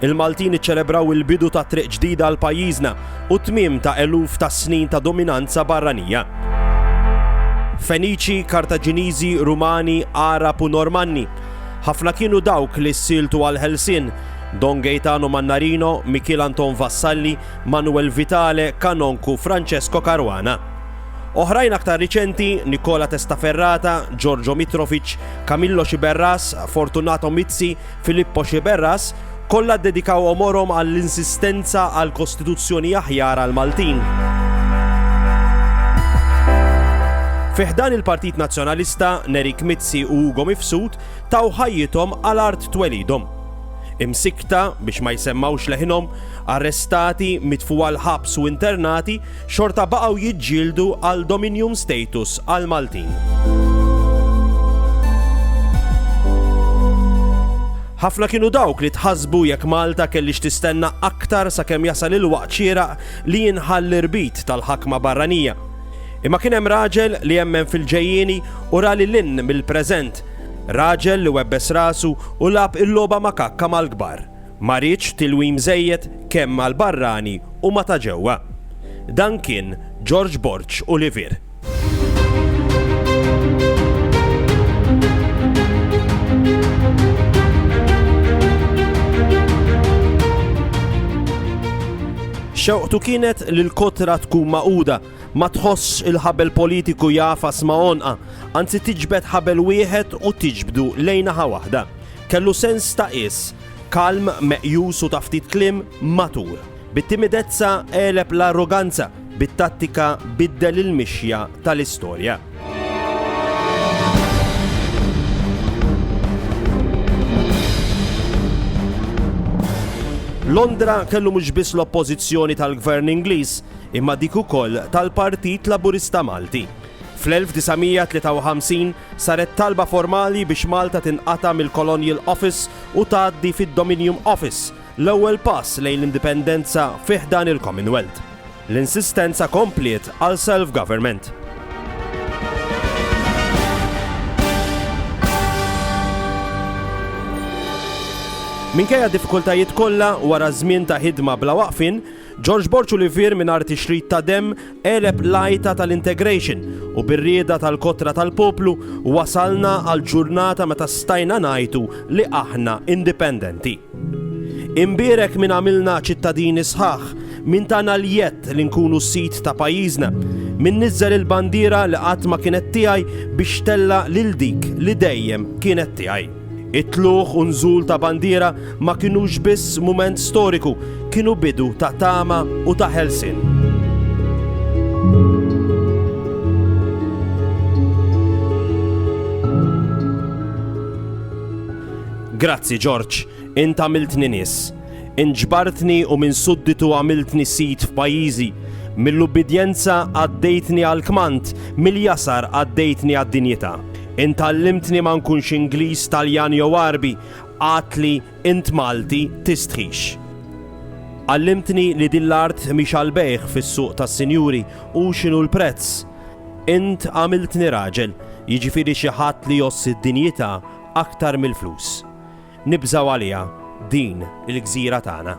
Il-Maltin iċċelebraw il-bidu ta' triq ġdida għal pajjiżna u t-tmiem ta' eluf ta' snin ta' dominanza barranija. Feniċi, Kartaġiniżi, Rumani, Għarab u Normanni, ħafna kienu dawk li ssieltu għall-ħelsien, Don Gaetano Mannarino, Mikiel Anton Vassalli, Manuel Vitale, Kanonku, Francesco Caruana. Oħrajn aktar riċenti, Nicola Testaferrata, Giorgio Mitrovic, Camillo Sciberras, Fortunato Mizzi, Filippo Sciberras, kollha ddedikaw għomorhom għall-insistenza għal Kostituzzjoni aħjar għall-Maltin. Fi ħdan il-Partit Nazzjonalista, Nerik Mizzi u Ugo Mifsud taw ħajjithom għal art twelidhom. Imsikta biex ma jsemmawx leħinhom, arrestati, mitfuwa l-ħabs u internati, xorta baqgħu jiġġieldu għal dominium status għal Maltin. Ħafna kienu dawk li tħasbu jekk Malta kellix tistenna aktar sakemm jasal il-waqt xieraq li jinħall irbit tal-ħakma barranija. Imma kien hemm raġel li jemmen fil-ġejjieni u rali lin mill-preżent. Raġel li webbes rasu u lab il-logħba makakka mal-kbar. Ma riedx tilwim żejjed kemm mal-barrani u ma' ta' ġewwa. Dan kien George Borg u Livier. Xewqtu kienet li l-kotra tkun magħquda, ma tħossx il-ħabel politiku jagħfas ma' għonqha, anzi tiġbed ħabel wieħed u tiġbdu lejn naħa waħda. Kellu sens ta' qies. Kalm, meqjus u ta' ftit kliem, matur. Bit-timidezza għeleb l-arroganza, bit-tattika biddel il-mixja tal-istorja. Londra kellu mhux biss l-oppożizzjoni tal-Gvern Ingliż, imma dik ukoll tal-Partit Laburista Malti. Fl-1953 saret talba formali biex Malta tinqata' mill-Colonial Office u tgħaddi fid-Dominium Office, l-ewwel pass lejn l-indipendenza fi ħdan il-Commonwealth. L-insistenza kompliet għal self-government. Minkejja d-diffikultajiet kollha, wara żmien ta' ħidma bla waqfien, George Borg Olivier mingħajr tixrid ta' demm għeleb l-għajta tal-integration u bir-rieda tal-kotra tal-poplu wasalna għal ġurnata meta stajna ngħidu li aħna indipendenti. Imbierek min għamilna ċittadini sħaħ, min tana l-jedd li nkunu sid ta' pajjiżna, min niżżel il-bandiera li qatt ma kienet tiegħi biex tella' lil dik li dejjem kienet tiegħi. It-tlugħ u nżul ta' bandiera ma kinux biss mument storiku, kienu bidu ta' tama u ta' ħelsien. Grazzi Ġorġ, int għamiltni nies. Int ġbartni u minn sudditu għamiltni sid f'pajjiżi. Mill-ubbidjenza għaddejtni għall-kmand, mill-jasar għaddejtni għad-dinjità. Int għallimtni ma nkunx Ingliż, Taljan jew Għarbi, għadtli int Malti, tistħix. Għallimtni li din l-art mhix għall-bejgħ fis-suq tas-sinjuri u x'inhu l-prezz. Int għamiltni raġel, jiġifieri xi ħadd li jgħożż id-dinjità aktar mill-flus. Nibżgħu għaliha din il-gżira tagħna.